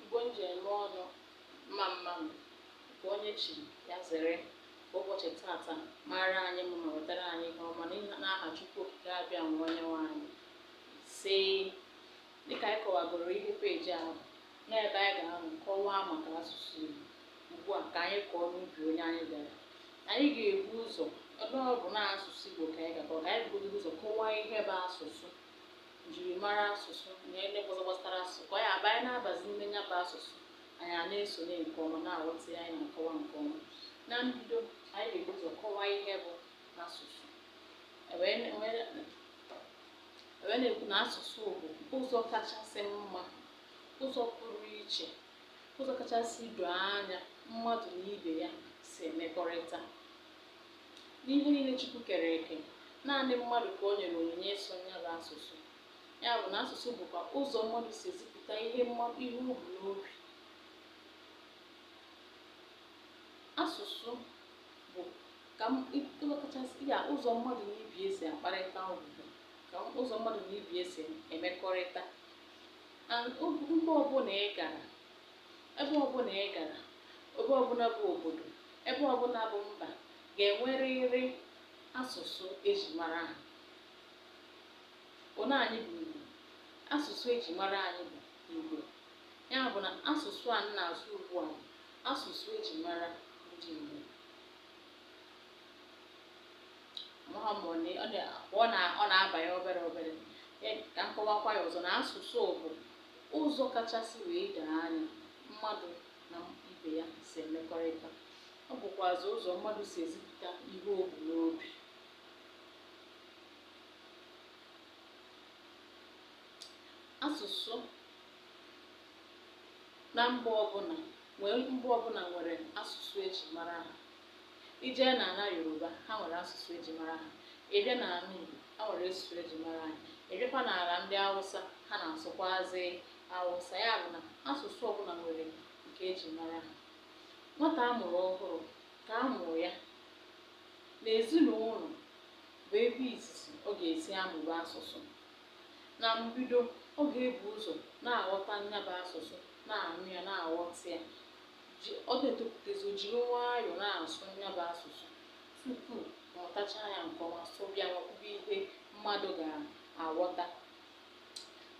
Igbo m ji eme ọnụ mma mma nụ nke onye chi ya zere ụbọchị tata mara anyị mma ma wetara anyị ihe ọma n'aha Chukwu Okike Abịama onye nwe anyị isee dịka anyị kọwagoro ihe peji ahụ n'ebe anyị ga-ahụ kọwaa maka asụsụ Igbo ugbu a ka anyị kọọ n'ubi onye anyị gara anyị ga-ebu ụzọ ebe ọ bụ na asụsụ Igbo ka anyị ga-akọ ka anyị bugodo ụzọ kọwaa ihe bụ asụsụ njirimara asụsụ na ihe ndị ọzọ gbasara asụsụ ka ọ ya-abụ anyị na-abazi n'ime nya bụ asụsụ anyị a na-esonye nke ọma na-aghọta ya anyị na-akọwa nke ọma na mbido anyị ga-ebu ụzọ kọwaa ihe bụ asụsụ e wee na- e wee na- e wee na-ekwu na asụsụ bụ ụzọ kachasị mma ụzọ pụrụ iche ụzọ kachasị doo anya mmadụ na ibe ya si emekọrịta N'ihe niile Chukwu kere eke, naanị mmadụ ka o nyere onyinye ịsụ nya bụ asụsụ. Ya bụ na asụsụ bụkwa ụzọ mmadụ si ezipụta ihe ihe o bu n'obi. Asụsụ bụ ka ịghọtachasị ya ụzọ mmadụ na ibe ya si akparịta ụbụbọ ka ụzọ mmadụ na ibe ya si emekọrịta. And mba ọbụla ị gara, Ebe ọbụla ị gara, ebe ọbụla bụ obodo, ebe ọbụla bụ mba ga-enwerịrị asụsụ e ji mara ha. Ọ na anyị bụ Igbo? Asụsụ e ji mara anyị bụ Igbo. Ya bụ na asụsụ a m na-asụ ugbu a bụ asụsụ e ji mara ndị Igbo. Amaghị m ma ọ na- ọ na- ọ na- ọ na-abanye obere obere. E, ka m kọwakwa ya ọzọ na asụsụ bụ Ụzọ kachasị wee doo anya mmadụ na ibe ya si emekọrịta, ọ bụkwazị ụzọ mmadụ si ezipụta ihe o bu n'obi. Asụsụ na mba ọbụla nwere mba ọbụla nwere asụsụ e ji mara ha. I jee n'ala Yoruba, ha nwere asụsụ e ji mara ha. Ị bịa n'ala Igbo, ha nwere asụsụ e ji mara anyị. Ị bịakwa n'ala ndị Awụsa, ha na-asụkwazị Awụsa. Ya bụ na asụsụ ọbụla nwere nke e ji mara ha. Nwata a mụrụ ọhụrụ ka a mụrụ ya n'ezinụlọ bụ ebe izizi ọ ga-esi amụba asụsụ. Na mbido, ọ ga-ebu ụzọ na-aghọta nya bụ asụsụ, na-anụ ya, na-aghọta ya. ji ọ na-etopụtezi o jiri nwayọọ na-asụ ya bụ asụsụ tupu ọ mụtachaa ya nke ọma sụba ya wee kwube ihe mmadụ ga-aghọta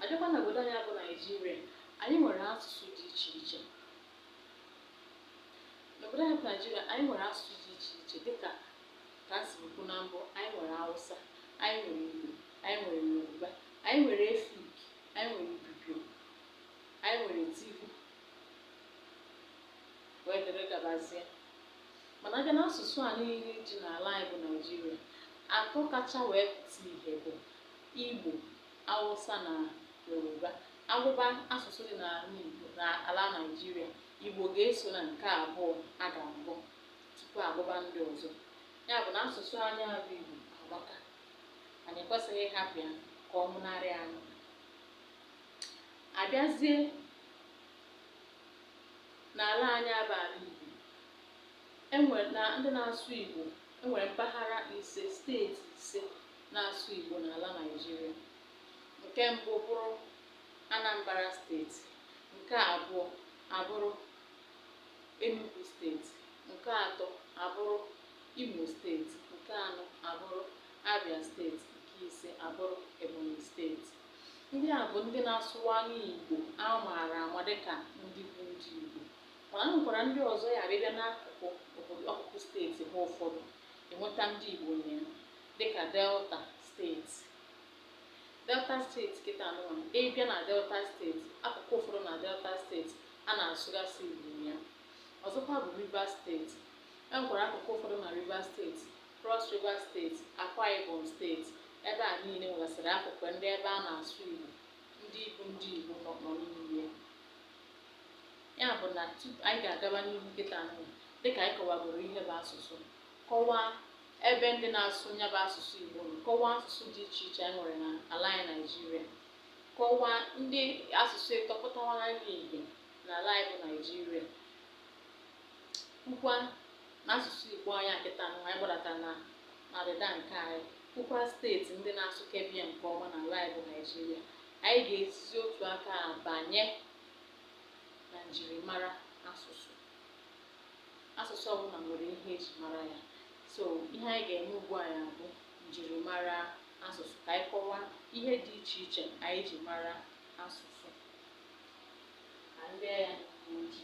abịakwa na obodo anyị bụ naijiria anyị nwere asụsụ dị iche iche n'obodo anyị bụ naijiria anyị nwere asụsụ dị iche iche dịka ka m siri kwu na mbụ anyị nwere awụsa anyị nwere igbo anyị nwere yoruba anyị nwere efik anyị nwere ibibio anyị nwere tivi wee dịrị gabazie mana abịa na asụsụ a niile dị n'ala anyị bụ naijiria atọ kacha wee pụta ihe bụ igbo awụsa na yoruba agụba asụsụ dị n'ala igbo n'ala naijiria igbo ga-eso na nke abụọ a ga-agụ tupu agụba ndị ọzọ ya bụ na asụsụ anyị bụ igbo agbaka anyị ekwesịghị ịhapụ ya ka ọ nwụnarị anyị abịazie n'ala anyị bụ ala Igbo enwere na ndị na-asụ Igbo enwere mpaghara ise steeti ise na-asụ Igbo n'ala Naịjirịa nke mbụ bụrụ Anambra steeti nke abụọ abụrụ Enugu steeti nke atọ abụrụ Imo steeti nke anọ abụrụ Abia steeti nke ise abụrụ Ebonyi steeti Ndị a bụ ndị na-asụwalụ Igbo a maara ama dịka ndị bụ ndị Igbo. Mana e nwekwara ndị ọzọ ya bụ ịbịa n'akụkụ obodo akụkụ steeti ha ụfọdụ ị nweta ndị Igbo na ya dịka Delta steeti. Delta steeti kịta nụwa ịbịa na Delta steeti akụkụ ụfọdụ na Delta steeti a na-asụgasị Igbo na ya. Ọzọkwa bụ Rivers steeti. E nwekwara akụkụ ụfọdụ na Rivers steeti Cross River State, Akwa Ibom State, ebe a niile nwegasịrị akụkụ ndị ebe a na-asụ Igbo ndị Igbo ndị Igbo nọ nọ n'ime ya. Ya bụ na anyị ga-agaba n'ihu kịta ahụ dịka anyị kọwagoro ihe bụ asụsụ kọwaa ebe ndị na-asụ ya bụ asụsụ Igbo nọ kọwaa asụsụ dị iche iche anyị nwere n'ala anyị Naịjirịa kọwaa ndị asụsụ ịtọ pụtawara ihe n'ala anyị bụ Naịjirịa kwukwa N'asụsụ Igbo anyị a kịta nwa anyị gbadata na na ọdịda nke anyị kwukwa steeti ndị na-asụkebe ya nke ọma na ala anyị bụ Naijiria anyị ga-esizi otu aka a banye na njirimara asụsụ asụsụ ọbụla nwere ihe eji mara ya so ihe anyị ga-eme ugbu a ya bụ njirimara asụsụ ka anyị kọwaa ihe dị iche iche anyị ji mara asụsụ ka ndị ya n'oji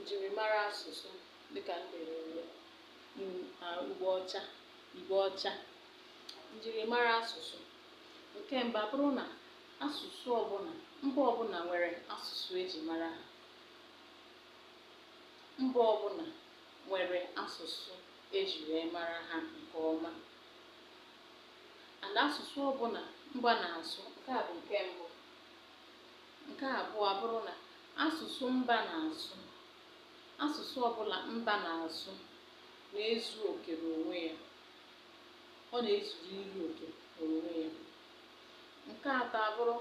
njirimara asụsụ dịkà m dere n'elu ugbo ọcha ugbo ọcha njirimara asụsụ nke mbụ abụrụ na asụsụ ọbụla mba ọbụla nwere asụsụ eji mara ha mba ọbụla nwere asụsụ eji wee mara ha nke ọma and asụsụ ọbụla mba na-asụ nke a bụ nke mbụ Nke abụọ abụrụ na asụsụ mba na-asụ, asụsụ ọbụla mba na-asụ na-ezu oke n'onwe ya, ọ na-ezuru ihe oke n'onwe ya. Nke atọ abụrụ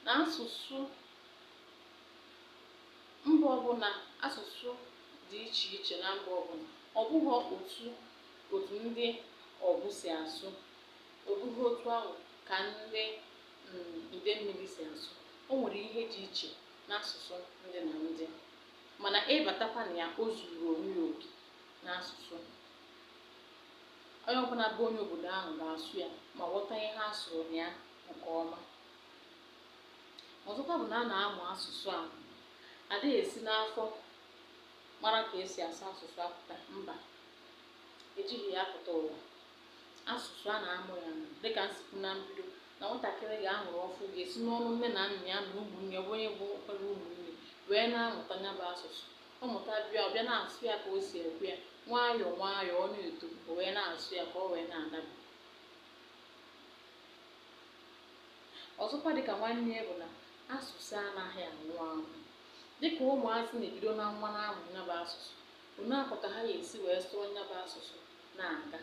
na asụsụ mba ọbụla, asụsụ dị iche iche na mba ọbụla, ọ bụghị otu otu ndị Ọgwụ si asụ, ọ bụghị otu ahụ ka ndị mm, Idemmili si asụ o nwere ihe dị iche n'asụsụ ndị na ndị mana ịbatakwa na ya o zuru onwe ya oke n'asụsụ onye ọbụla bụ onye obodo ahụ ga-asụ ya ma ghọta ihe a sụrụ na ya nke ọma ọzọkwa bụ na a na-amụ asụsụ a adịghị esi n'afọ mara ka esi asụ asụsụ apụta mba ejighị ya apụta ụwa asụsụ a na-amụ ya amụ dịka m si kwu na mbido na nwatakịrị a mụrụ ọfụụ ga-esi n'ọnụ nne na nna ya na ụmụnne ya onye bụ ọkpara ụmụnne wee na-amụta ya bụ asụsụ ọ mụta bịa ọ bịa na-asụ ya ka o si ekwu ya nwayọọ nwayọọ ọ na-eto o wee na-asụ ya ka ọ wee na-adaba ọzọkwa dịka nwanne ya bụ na asụsụ anaghị anwụ anwụ dịka ụmụazị na-ebido na nwa na-amụ ya bụ asụsụ onye akọ ka ha ga-esi wee sụọ ya bụ asụsụ na-aga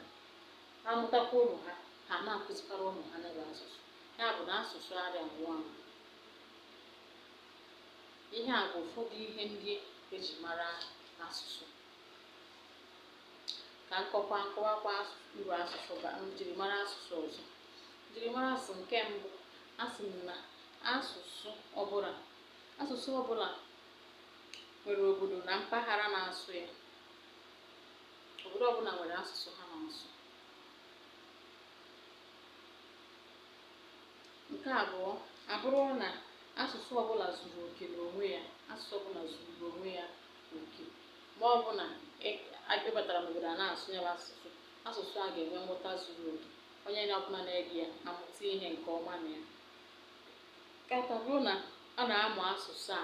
ha amụtakwa ụmụ ha ha na-akụzikwara ụmụ ha ya bụ asụsụ ya bụ na asụsụ arị anwụ anwụ ihe a bụ ụfọdụ ihe ndị eji mara asụsụ ka m kọkwa m kọwakwa uru asụsụ ba njirimara asụsụ ọzọ njirimara asụsụ nke mbụ asị m na asụsụ ọbụla asụsụ ọbụla nwere obodo na mpaghara na-asụ ya obodo ọbụla nwere asụsụ ha na-asụ nke abụọ abụrụ na asụsụ ọbụla zuru oke n'onwe ya asụsụ ọbụla zuru n'onwe ya oke ma ọ bụ na a batara n'obodo a na-asụ ya bụ asụsụ asụsụ a ga-enwe nghọta zuru oke onye na ọbụla na-ege ya amụta ihe nke ọma na ya nke atọ abụrụ na a na-amụ asụsụ a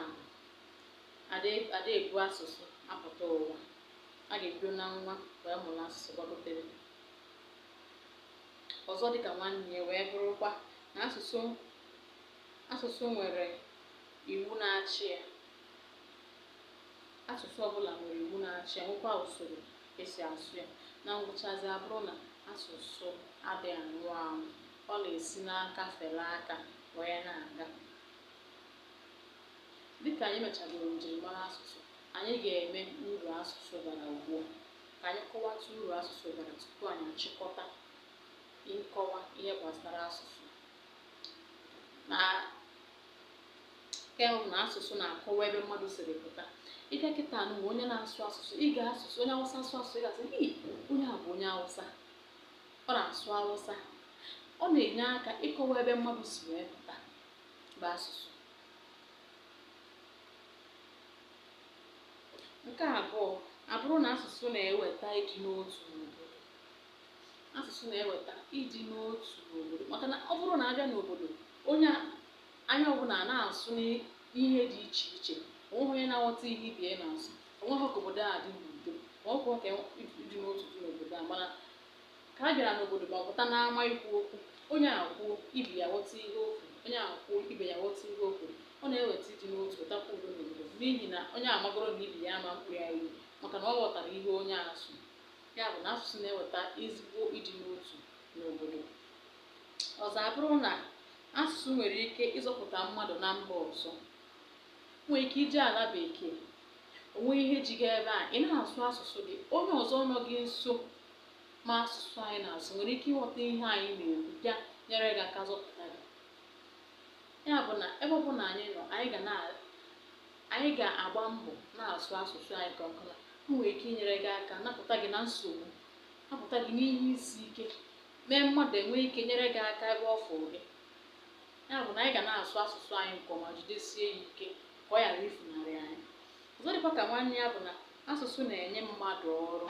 ada ebu asụsụ apụta ụwa a ga-ebido na nwa wee mụrụ asụsụ gbagotere ọzọ dịka nwanne ya wee bụrụkwa na asụsụ asụsụ nwere iwu na-achị ya asụsụ ọbụla nwere iwu na-achị ya nwekwa usoro esi asụ ya na ngwụchazi abụrụ na asụsụ adịghị anwụ anwụ ọ na-esi n'aka fere aka wee na-aga Dịka anyị mechagoro njirimara asụsụ, anyị ga-eme uru asụsụ bara ugbu a. Ka anyị kọwatụ uru asụsụ bara tupu anyị achịkọta nkọwa ihe gbasara asụsụ. Na nke mbụ na asụsụ na-akọwa ebe mmadụ siri pụta. Ị bịa kịta nụ onye na-asụ asụsụ, ị ga-asụsụ onye Awụsa asụ asụsụ, ị ga-asị "Ii, onye a bụ onye Awụsa, ọ na-asụ Awụsa." Ọ na-enye aka ịkọwa ebe mmadụ si wee pụta. bụ asụsụ nke abụọ abụrụ na asụsụ na-eweta ịdị n'otu n'obodo asụsụ na-eweta ịdị n'otu n'obodo maka na ọ bụrụ na a bịa n'obodo onye a- onye ọbụla na-asụ n'ihe dị iche iche onweghị onye na-aghọta ihe ibe ya na-asụ onweghị ka obodo a dị n'udo ma ọ bụ ka ịdị n'otu dị n'obodo a mana Ka a bịara n'obodo ma ọ pụta n'ama ikwu okwu, onye a kwuo, ibe ya ghọta ihe o kwuru, onye a kwuo, ibe ya ghọta ihe o kwuru, ọ na-eweta ịdị n'otu, wetakwa udo n'obodo n'ihi na onye a magoro na ibe ya ama mkpọ ya iyi maka na ọ ghọtara ihe onye a sụ. Ya bụ na asụsụ na-eweta ezigbo ịdị n'otu n'obodo. Ọzọ abụrụ na asụsụ nwere ike ịzọpụta mmadụ na mba ọzọ. nwere ike ije ala bekee o nwee ihe ji gị ebe a ị na-asụ asụsụ gị onye ọzọ nọ gị nso ma asụsụ anyị na-asụ nwere ike ịghọta ihe anyị na-ekwu bịa nyere gị aka zọpụta gị ya bụ na ebe ọbụla anyị nọ anyị ga na anyị ga-agba mbọ na-asụ asụsụ anyị oge ọbụla o nwere ike inyere gị aka napụta gị na nsogbu napụta gị n'ihe isi ike mee mmadụ enwee ike nyere gị aka ebe ọ fụrụ gị ya bụ na anyị ga na-asụ asụsụ anyị nke ọma jidesie ya ike ka ọ ghara ifunarị anyị ọzọ dịkwa ka nwanne ya bụ na asụsụ na-enye mmadụ ọrụ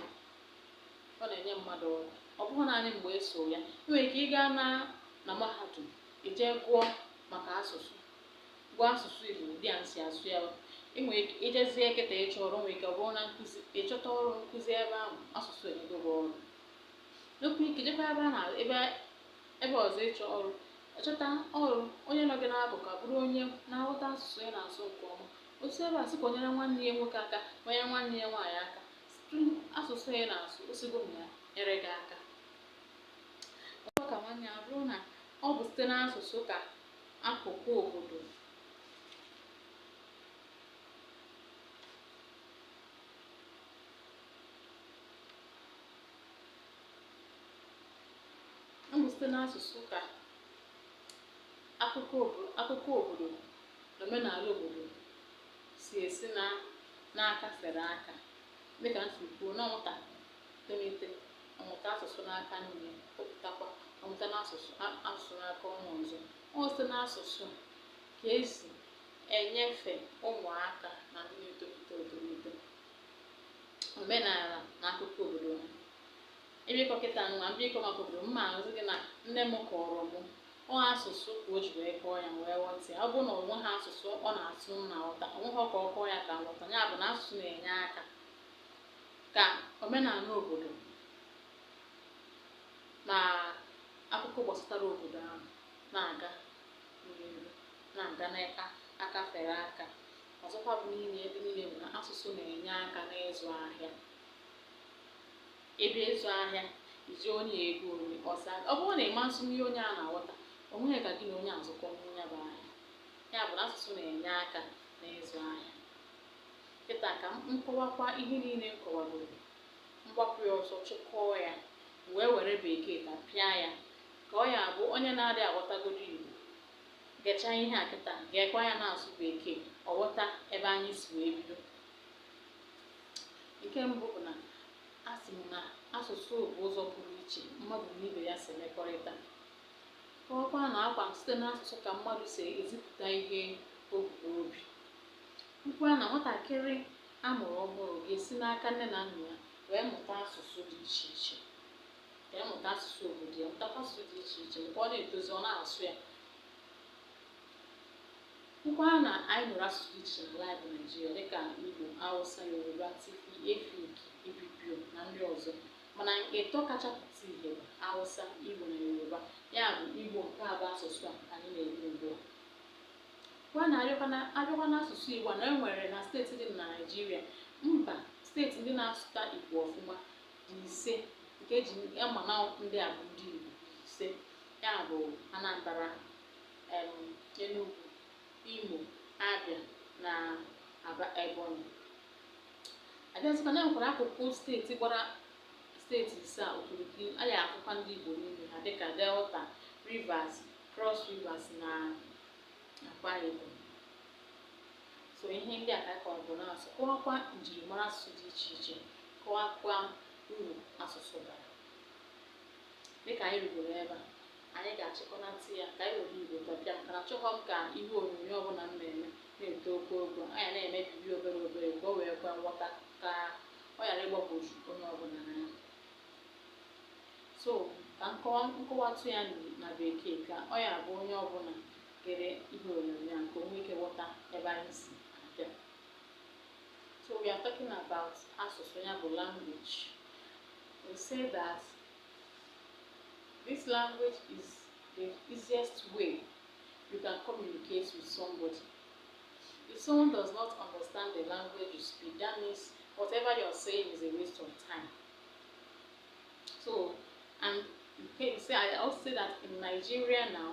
ọ na-enye mmadụ ọrụ ọ bụghị naanị mgbe a sụọ ya i nwere ike ịga na na mahadum ije gụọ maka asụsụ gụọ asụsụ Igbo dịka esi asụ ya enwere ike ijezie kịta ịchọ ọrụ nwere ike ọ bụrụ na nkụzi ị chọta ọrụ nkụzi ebe ahụ asụsụ enyego gị ọrụ Nwekwa ike jekwa ebe a na ebe ebe ọzọ ịchọ ọrụ. Chọta ọrụ, onye nọ gị n'akụkụ abụrụ onye na-aghọta asụsụ ị na-asụ nke ọma. O si ebe a sị ka o nyere nwanne ya nwoke aka ma nyere nwanne ya nwaanyị aka sụtụ asụsụ ị na-asụ, o sigo na ya nyere gị aka. Ọzọ ka nwanne ya bụrụ na ọ bụ site n'asụsụ ka akụkọ obodo ọ bụ site n'asụsụ ka akụkọ obodo akụkọ obodo na omenala obodo si esi n'aka fere aka dịka m si kwuo na nwata tolite ọ mụta asụsụ n'aka nne pụtakwa ọ mụta n'asụsụ a- asụsụ n'aka onye ọzọ ọ bụ site n'asụsụ ka e si enyefe ụmụaka na ndị na-etolite etolite omenala na akụkọ obodo ha m bịa ịkọ kịta nwa m bịa ịkọ maka obodo m m asị gị na nne m kọọrọ mụ ọ asụsụ ka o ji wee kọọ ya wee ghọta ya ọ bụrụ na o nweghị asụsụ ọ na-asụ m na-aghọta o nweghị ka ọ kọọ ya ka m ghọta ya bụ na asụsụ na-enye aka ka omenala obodo na akụkọ gbasatara obodo ahụ na-aga n'ihu na-aga n'aka fere aka Ọzọkwa bụ niile ebe niile bụ na asụsụ na-enye aka n'ịzụ ahịa ị bịa ịzụ ahịa zi onye igbo onye hausa ọ bụrụ na ị ma nsụnye onye a na-aghọta o nweghị ka gị na onye a zụkọọ ya bụ ahịa ya bụ na asụsụ na-enye aka n'ịzụ ahịa kịta ka m kọwakwa ihe niile m kọwagoro m gbapụ ya ọsọ chịkọọ ya wee were bekee tapịa ya ka ọ ya-abụ onye na-adịghị aghọtagodo igbo Gechaa ihe a kịta, geekwa ya n'asụsụ bekee, ọ ghọta ebe anyị si wee bido. Nke mbụ bụ na asị m na asụsụ bụ ụzọ pụrụ iche mmadụ na ibe ya si emekọrịta. Kọwakwa na ọ kwa site n'asụsụ ka mmadụ si ezipụta ihe o bu n'obi. Kwukwaa na nwatakịrị a mụrụ ọhụrụ ga-esi n'aka nne na nna ya wee mụta asụsụ dị iche iche. ka ya mụta asụsụ obodo ya mụtakwa asụsụ dị iche iche mgbe ọ na-etozi ọ na-asụ ya kwukwaa na anyị nwere asụsụ dị iche n'ala anyị bụ naijiria dịka igbo hausa yoruba tiv efik ibibio na ndị ọzọ mana ịtọ kacha pụta ihe bụ hausa igbo na yoruba ya bụ igbo nke a bụ asụsụ a anyị na-eme ugbu a kwa na a bịakwa n'asụsụ igbo na e nwere na steeti dị na naijiria mba steeti ndị na-asụta igbo ọfụma dị ise nke eji ama na ndị a bụ ndị Igbo ise a bụ Anambra em, Enugu Imo Abịa na Aba Ebonyi abịazikwa na e nwekwara akụkụ steeti gbara steeti ise a okirikiri a na-ahụkwa ndị Igbo n'ime ha dịka Delta Rivers Cross Rivers na Akwa Ibom so ihe ndị a ka anyị kọrọ bụ n'asụsụ kọwakwa njirimara asụsụ dị iche iche kọwakwa uru asụsụ bara dịka anyị rugoro ebe a anyị ga-achịkọnata ya ka anyị were igbo topic a maka na achọghọ m ka ihe onyonyo ọbụla m na-eme na-eto oke ogo anyị na-emebibi obere obere ka o wee kwe nghọta ka ọ ghara ịgbagwoju onye ọbụla anya so ka m kọwa m kọwatụ ya na bekee ka ọ ya-abụ onye ọbụla gere ihe onyonyo a ka o nwee ike ghọta ebe anyị si abịa so we are talking about asụsụ ya bụ language we say that this language is the easiest way you can communicate with somebody if someone does not understand the language you speak that means whatever you are saying is a waste of time so and you can say i also say that in nigeria now